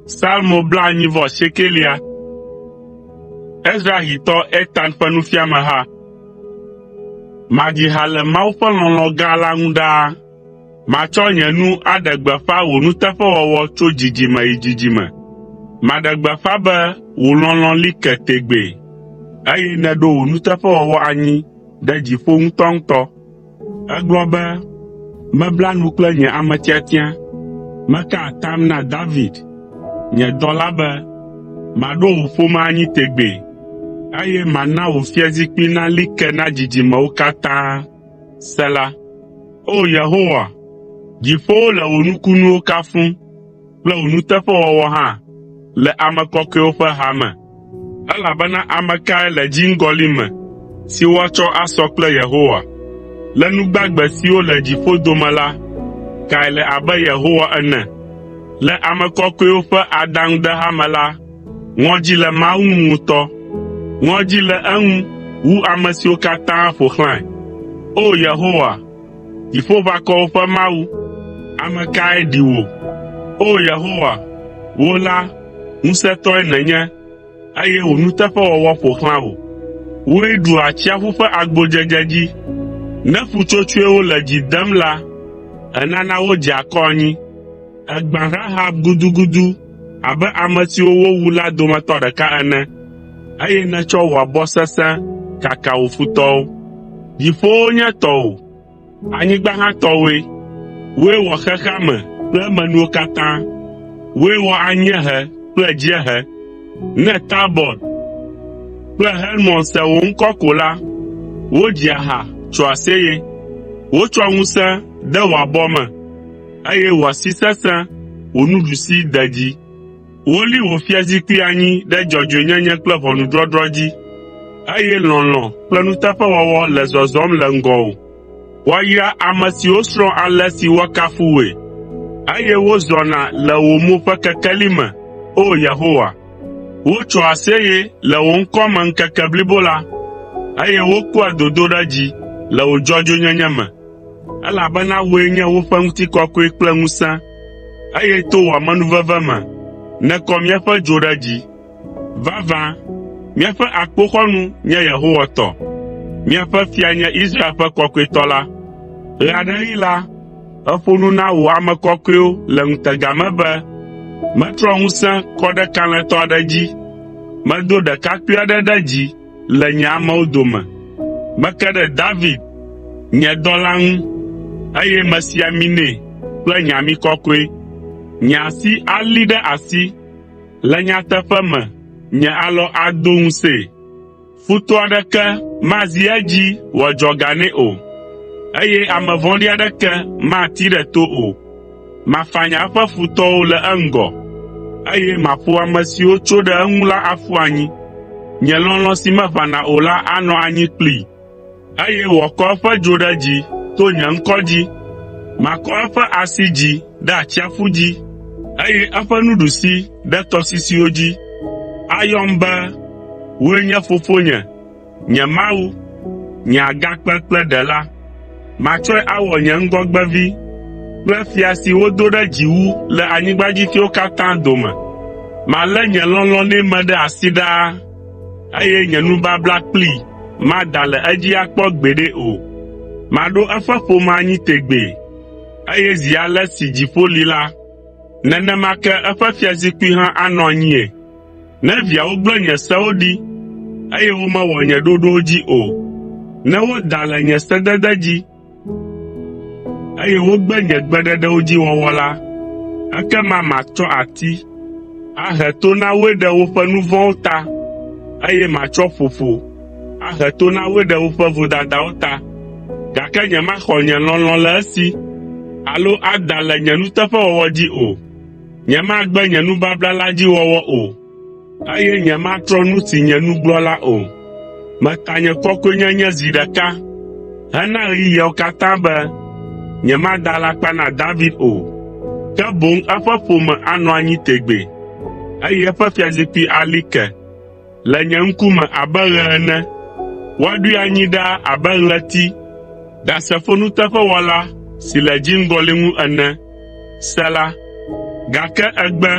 Salmo blaenyi vɔ asiekelia. Ezrahitɔ Etan ƒe nufiameha. Madzi ha le Mawu ƒe lɔlɔ̃ gã la ŋu ɖaa. Matsɔ nye nu aɖe gbeƒã wò nuteƒewɔwɔ tso dzidzime yi dzidzime. Maɖe gbeƒã be wò lɔlɔ̃ li ke tegbee, eye nèɖo wò nuteƒewɔwɔ anyi ɖe dziƒo ŋutɔŋutɔ. Egblɔ be, “Mebla nu kple nye ame tiatia, meka atam na David, nye dɔla be, maɖo wò ƒome anyi tegbee, eye mana wò fiazikpui nali ke na dzidzimewo katã.” Sela O Yehowa, dziƒowo le wò nukunuwo kafum, kple wò nuteƒewɔwɔ hã le ame kɔkɔewo ƒe ha me. Elabena ame kae le dziŋgɔli me si woatsɔ asɔ kple Yehowa? Le nu gbagbe siwo le dziƒo dome la, kae le abe Yehowa ene? Le ame kɔkɔewo ƒe adaŋudeha me la, ŋɔdzi le Mawu ŋu ŋutɔ. Ŋɔdzi le eŋu wu ame siwo katã ƒo xlãe. O! Yehowa, Dziƒoʋakɔwo ƒe Mawu, ame kae ɖi wò? O Yehowa, wò la, ŋusẽtɔe nènye, eye wò nuteƒewɔwɔ ƒo xlã wò. Wòe ɖua atsiaƒu ƒe agbodzedze dzi. Ne ƒutsotsoewo le dzi dem la, ènana wodzea akɔ anyi. Ègbã Rahab gudugudu abe ame siwo wowu la dometɔ ɖeka ene. eye nètsɔ wò abɔ sesẽ kaka wò futɔwo. Dziƒowo nye tɔwò, anyigba hã tɔwòe. Wòe wɔ xexea me kple emenuwo katã. Wòe wɔ anyiehe kple dziehe. Ne Tabɔr kple Hermon se wò ŋkɔ ko la, wodzia ha tsoa aseye. Wotsɔa ŋusẽ de wò abɔ me, eye wò asi sesẽ wò nuɖusi de dzi. Woli wò fiazikpui anyi ɖe dzɔdzɔenyenye kple ʋɔnudɔdrɔ̃ dzi, eye lɔlɔ̃ kple nuteƒewɔwɔ le zɔzɔm le ŋgɔwò. Woayra ame siwo srɔ̃ ale si woakafu wòe, eye wozɔna le wò mo ƒe kekeli me, O Yehowa. Wotsoa aseye le wò ŋkɔ me ŋkeke blibo la, eye wokpɔa dodoɖedzi le wò dzɔdzɔenyenye me. Elabena wòe nye woƒe ŋutikɔkɔe kple ŋusẽ, eye to wò amenuveve me nèkɔ míaƒe dzo ɖe dzi. Vavã, míaƒe akpoxɔnu nye Yehowa tɔ, míaƒe Fia nye Israel ƒe Kɔkɔetɔ la.” Ɣe aɖeɣi la, èƒo nu na wò ame kɔkɔewo le ŋutega me be, “Metrɔ ŋusẽ kɔ ɖe kalẽtɔ aɖe dzi, medo ɖekakpui aɖe ɖe dzi, le nye amewo dome. Meke ɖe David, nye dɔla ŋu, eye mesi ami nɛ kple nye ami kɔkɔe. Nye asi alí ɖe asi, le nyateƒe me nye alɔ ado ŋusẽe. Futɔ aɖeke mazi edzi wòadzɔ ga nɛ o, eye ame vɔ̃ɖi aɖeke matee ɖe to o. Mafanya eƒe futɔwo le eŋgɔ, eye maƒo ame siwo tso ɖe eŋu la aƒu anyi. Nye lɔlɔ̃ si meʋãna o la anɔ anyi kplii, eye wòakɔ eƒe dzo ɖe dzi to nye ŋkɔ dzi. Makɔ eƒe asi dzi ɖe atsiaƒu dzi, eye eƒe nuɖusi ɖe tɔsisiwo dzi. Ayɔm be, ‘Wòe nye fofonye.’ Nye Mawu, nye Agakpe kple Ɖela, matsɔe awɔ nye ŋgɔgbevi kple fia si wodo ɖe dzi wu le anyigbadzifiawo katã dome. Malé nye lɔlɔ̃ nɛ me ɖe asi ɖaa, eye nye nubabla kplii mada le edzi akpɔ gbeɖe o. Maɖo eƒe ƒome anyi tegbee, eye zi ale si dziƒo li la, nenema ke eƒe fiazikpui hã anɔ anyii. Ne viawo gblẽ nye sewo ɖi, eye womewɔ nye ɖoɖowo dzi o, ne woda le nye sedede dzi, eye wogbe nye gbeɖeɖewo dzi wɔwɔ la, ekema matsɔ ati ahe to na woe ɖe woƒe nu vɔ̃wo ta, eye matsɔ ƒoƒo ahe to na woe ɖe woƒe vodadawo ta, gake nyemaxɔ nye lɔlɔ̃ le esi alo ada le nye nuteƒewɔwɔ dzi o. Nyemagbe nye nubabla la dzi wɔwɔ o, eye nyematrɔ nu si nye nu gblɔ la o. Meta nye kɔkɔenyenye zi ɖeka hena ɣeyiɣiawo katã be nyemada alakpa na David o, ke boŋ eƒe ƒome anɔ anyi tegbee, eye eƒe fiazikpui ali ke. Le nye ŋkume abe ɣe ene. Woaɖoe anyi ɖaa abe ɣleti, ɖasefo nuteƒewɔla si le dziŋgɔli ŋu ene. Sela Gake ègbe,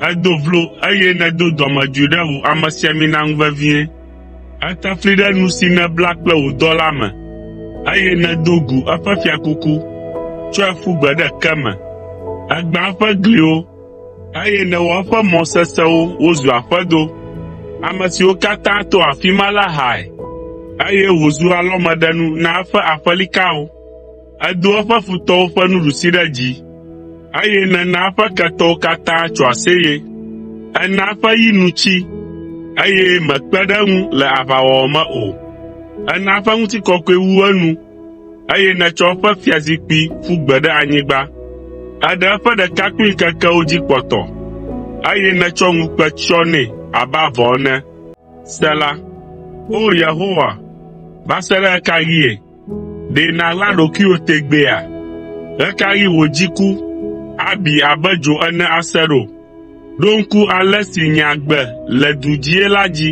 èdo vlo eye nèdo dɔmedzoe ɖe wò amesiamina ŋu vevie. Ète fli ɖe nu si nèbla kple wò dɔla me, eye nèdo gu eƒe fiakuku, tsɔe ƒu gbe ɖe ke me. Ègbã eƒe gliwo, Eye nèwɔ eƒe mɔ sesẽwo wozu aƒedo. Ame siwo katã to afi ma la hae, eye wòzu alɔmeɖenu na eƒe aƒelikawo. Èdo eƒe futɔwo ƒe nuɖusi ɖe dzi, eye nèna eƒe ketɔwo katã tso aseye. Èna eƒe yi nu tsi, eye mèkpe ɖe eŋu le aʋawɔwɔ me o. Èna eƒe ŋutikɔkɔe wu enu, eye nètsɔ eƒe fiazikpui ƒu gbe ɖe anyigba. Èɖe eƒe ɖekakpuiŋkekewo dzi kpɔtɔ, eye nètsɔ ŋukpe tsyɔ nɛ abe avɔ ene. Sela O Yehowa, va se ɖe ɣe ka ɣie? Ɖe nàɣla ɖokuiwò tegbeea? Ɣe ka ɣi wò dziku abi abe dzo ene ase ɖo? Ɖo ŋku ale si nye agbe le du dzie la dzi.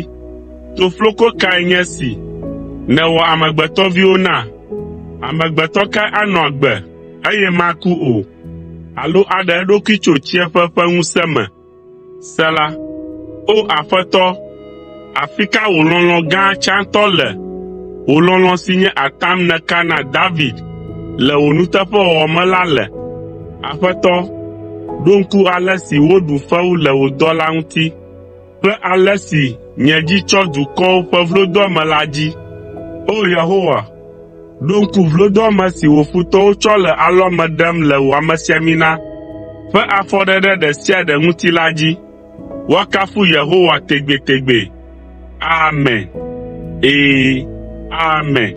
Tofloko kae nye esi nèwɔ amegbetɔviwo na? Amegbetɔ kae anɔ agbe, eye maku o, alo aɖe eɖokui tso tsiẽƒe ƒe ŋusẽ me? Sela O Aƒetɔ, Afi ka wò lɔlɔ̃ gã tsãtɔ le, wò lɔlɔ̃ si nye atam nèka na David le wò nuteƒewɔwɔ me la le? Aƒetɔ, ɖo ŋku ale si woɖu fewu le wò dɔla ŋuti kple ale si nye dzi tsɔ dukɔwo ƒe vlodoame la dzi. O Yehowa, ɖo ŋku vlodoame si wò futɔwo tsɔ le alɔme ɖem le wò amesiamina ƒe afɔɖeɖe ɖe sia ɖe ŋuti la dzi. Woakafu Yehowa tegbetegbe! Amen. Ee, amen.